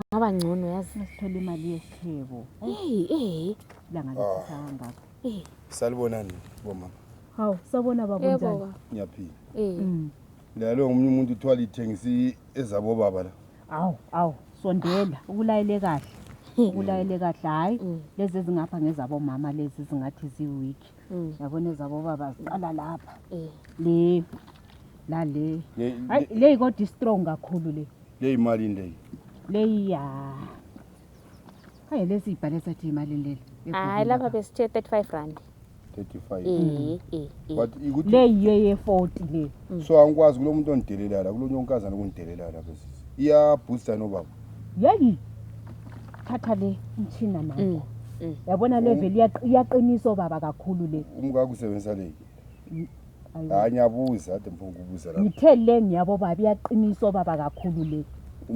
kungaba ngcono yazi. Masithola imali yesithebo. Hey, eh. Langa lithisa kangaka. Eh. Salibonani bo mama. Hawu, sabona baba Eh, unjani? baba. Ngiyaphila. Eh. Mm. Lalo ngomunye umuntu uthiwa lithengisi ezabo baba la. Awu, awu, sondela, ukulayele kahle. Ukulayele kahle hayi. Mm. Lezi ezingapha ngezabo mama lezi zingathi ziweak. Mm. Yabona ezabo baba ziqala lapha. Eh. Le la le. Le- Hayi le kodwa strong kakhulu le. Leyi malini leyi? Leyi ya. Hayi lesi ibhale sathi imalini leli? Hayi lapha besithe 35 rand. 35. Eh eh eh. But ikuthi Leyi yeye 40 le. so angikwazi kulo muntu ongidelela la, kulo nyonkazana okungidelela la bese. Iya booster no baba. Yeyi. Thatha le mchina Mm. manje. Yabona level iyaq- iyaqiniso baba kakhulu le. Umkakho usebenzisa leyi. hayi ngiyabuza ade mfuna ukubuza la ngithe le ngiyabo baba iyaqinisa obaba kakhulu le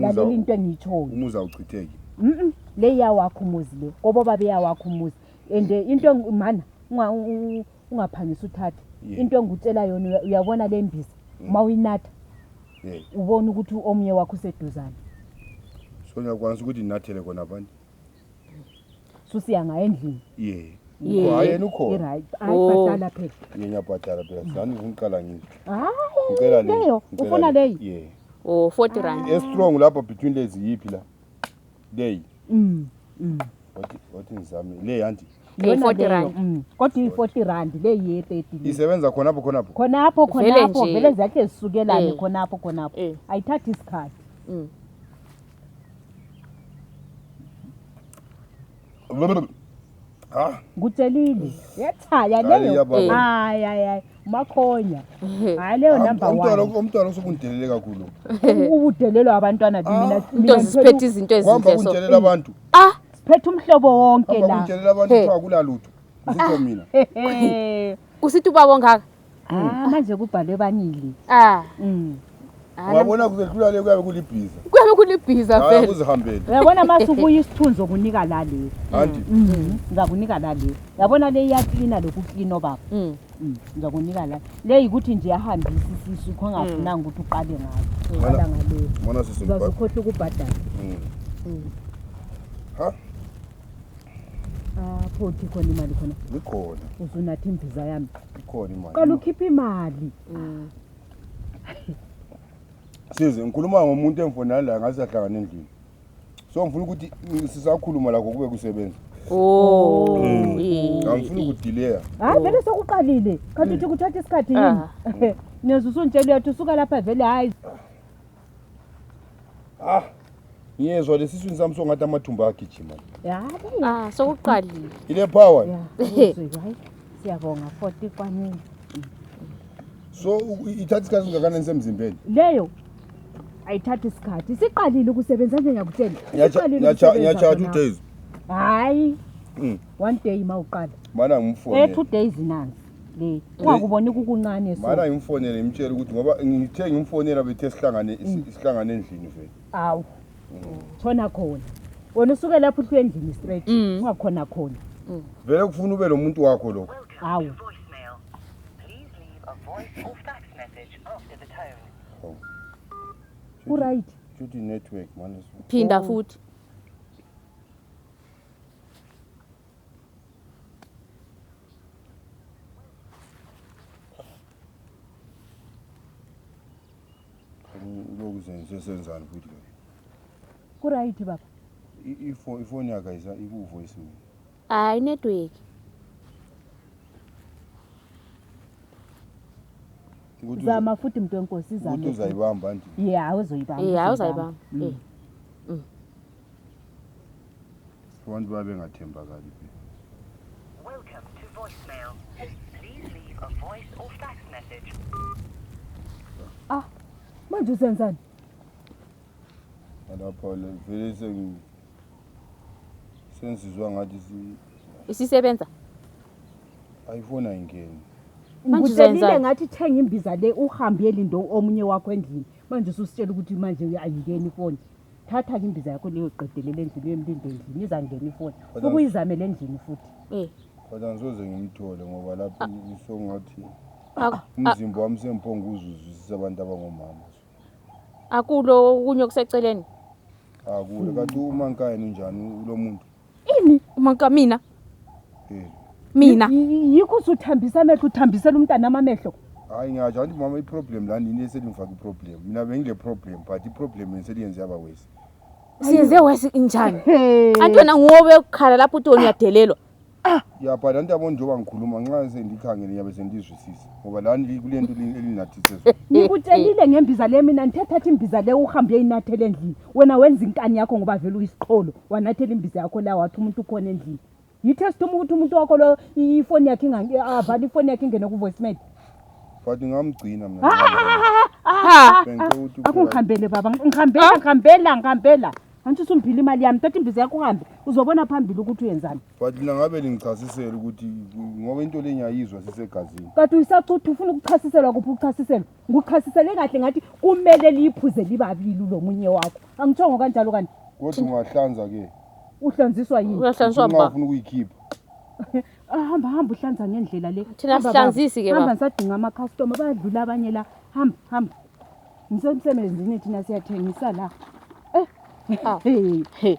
lalela into engiyitshoyo umuzi awuchitheki mm le iyawakho umuzi le kobo baba iyawakho umuzi and eh, into mana ungaphangisa uthathe into engikutshela yona uyabona le mbiza uma mm. uyinatha ubona ukuthi omunye wakho useduzane so ngiyakwanisa ukuthi ndinathele kona abantu susiya ngayo endlini ye Ye. Ukhona, yena ukhona Right. Hayi, Oh. bhatala phela ye ngiyabhadala phela sani ngiqala ngithi hayi ngicela le leyo ngicela ufuna le. leyi ye o 40 rand e strong lapha between lezi yipi la leyi Mm, mm. wathi wathi ngizame le yanti Le Yona 40 leyo, rand. mm. kodwa iyi-40 rand le ye-30 le. isebenza khona apho khona apho khonapho Vele khonapho nje. vele zahle zisukelane Eh. khonapho khonapho Eh. ayithathi isikhathi Mm. Ah, ngitshelile yethaya Hayi, leyo iyababa. hayi hayi hayi umakhonya hayi leyo number umntwana one umntwana usukundelele kakhulu. ubudelelwa abantwana Ah, mina Into zisiphethe izinto Kuhamba ezinhle so. kundelela abantu. Ah, siphethe umhlobo wonke Kuhamba la kundelela abantu Hey. kuthiwa akunalutho. Ngikho mina. Hehe. usithi ubaba ongaka. Ah, manje kubhalwe banili. Ah. Mm. Ah, Wabona kuzehlula le kuyabe kulibhiza. Kuyabe kulibhiza Hayi vele. kuzihambele. Uyabona mase ubuya isithunzi okunika la le. Anti. Mhm. Ngizakunika la le. Yabona le iyaklina lokhu klina obaba. Mm. Mm, Ngizakunika la. Le yikuthi nje yahambisa isisu khongafunanga ukuthi uqale ngayo. Uqala Mana- ngale. Mana sisi Uzazokhohla ukubhadala. Mm. Ha? Photi khona imali khona. Ikhona. Usunathi imbiza yami. Ikhona imali. Qala ukhipha imali. Mm. Size ngikhuluma ngomuntu engifona la ngaze ahlangana endlini. So ngifuna ukuthi sisakhuluma la kokube kusebenza. Oh. Mm. Angifuni ukudelay. Hayi vele sokuqalile. Kanti uthi kuthatha isikhathi yini? Ah. Niyazwa usuntshela uyathi usuka lapha vele hayi. Ah, ngiyezwa lesiswini sami songathi amathumba agijima. Ya, kunga sokuqalile. Ile power. Ya, uzwile, hayi. Siyabonga 40 kwaningi. So u- ithatha isikhathi singakanani semzimbeni? Leyo ayithathi isikhathi. Siqalile ukusebenza nje ngiyakutshela. Ngiyacha- Siqalile ngiyacha- ukusebenza Ngiyacha two khona. days. Hayi. Mm. One day mawuqala. Mana Eh ngimfone. two days nansi. le ungakuboni kukuncane so Mara ngimfonele ngimtshele ukuthi ngoba ngithe ngimfonela bethe sihlangane isi- sihlangane endlini vele. awu khona khona wena usuke lapho uhlwe endlini straight Mm. ungakhona khona Vele kufuna ube lo muntu wakho lokho. awu voicemail. Please leave a voice or fax message after the tone. uright Shuthi network manje. phinda futhi senzani futhi lo kurayiti baba ifoni yakhe ayisa ikuvoice mina hayi network zama futhi mntu wenkosi izauthi uzayibamba nje ye hawu uzoyibamba ye hawu uzayibamba mm. mm. abantu babengathembakali Welcome to voicemail. Please leave a voice or fax message. Ah, manje usenzani? Lapho le vele sengi sensizwa ngathi si isisebenza. Ayifona ingeni. Manje uzenzani? ngathi thenga imbiza le uhambe yelindo omunye wakho endlini. Manje ususitshela ukuthi manje uyayingeni ifoni. thatha ke imbiza yakho leyo qedelela endlini uyemlinde endlini izangena ifoni Kodwa- ukuyizamela endlini futhi Eh. kodwa ngisoze ngimthole ngoba lapho isongathi Aku- umzimba wami sengiphonga uzuzwisisa abantu abangomama Akulo okunye okuseceleni. akuwe kanti umankayini unjani lo muntu Ini umuntu mina? Hmm. Mina. Yikho usuthambisa amehlo uthambisela umntana amamehlo. Hayi ngiyasho anti mama iproblem la nini eselingifaka iproblem. Mina bengile problem but iproblem neseliyenze yaba worse. Siyenze worse injani? Anti wena ngobe ukukhala lapho uthi uyadelelwa. Ah. Ya but anti yabona njengoba ngikhuluma nxa sendikhangele ngiyabe sendizwisisa ngoba la kulento elinathise. Ngikutshelile ngembiza le mina ngithe thatha imbiza le uhambe uyinathele endlini. wena wenza inkani yakho ngoba vele uyisiqholo wanathela imbiza yakho la wathi umuntu ukhona endlini yitest uma ukuthi umuntu wakho lo i- ifoni yakhe ingange- avale ifoni yakhe ingene ku-voicemail but ngamgcina mna Ha. Bengicela ukuthi uphela- akungihambele baba ngihambela Ah. ngihambela ngihambela antsho usungiphila imali yami thatha imbiza yakho uhambe uzobona phambili ukuthi uyenzani but lina ngabe lingichasisele ukuthi ngoba into le ngiyayizwa sisegazini kade uyisacutha ufuna ukuchasiselwa kuphi ukuchasiselwa Nguchasisele kahle ngathi kumele liphuze libabili lomunye wakho. Angithongo kanjalo kanti. Kodwa ungahlanza ke. Uhlanziswa yini? Uyahlanziswa baba. Ufuna ukuyikhipha. Ah, hamba hamba uhlanza ngendlela le. Thina sihlanzisi ke baba. Hamba sadinga ama customer bayadlula abanye la. Hamba hamba. Ngisemsebenzini thina siyathengisa la. Eh. Ah. Hey.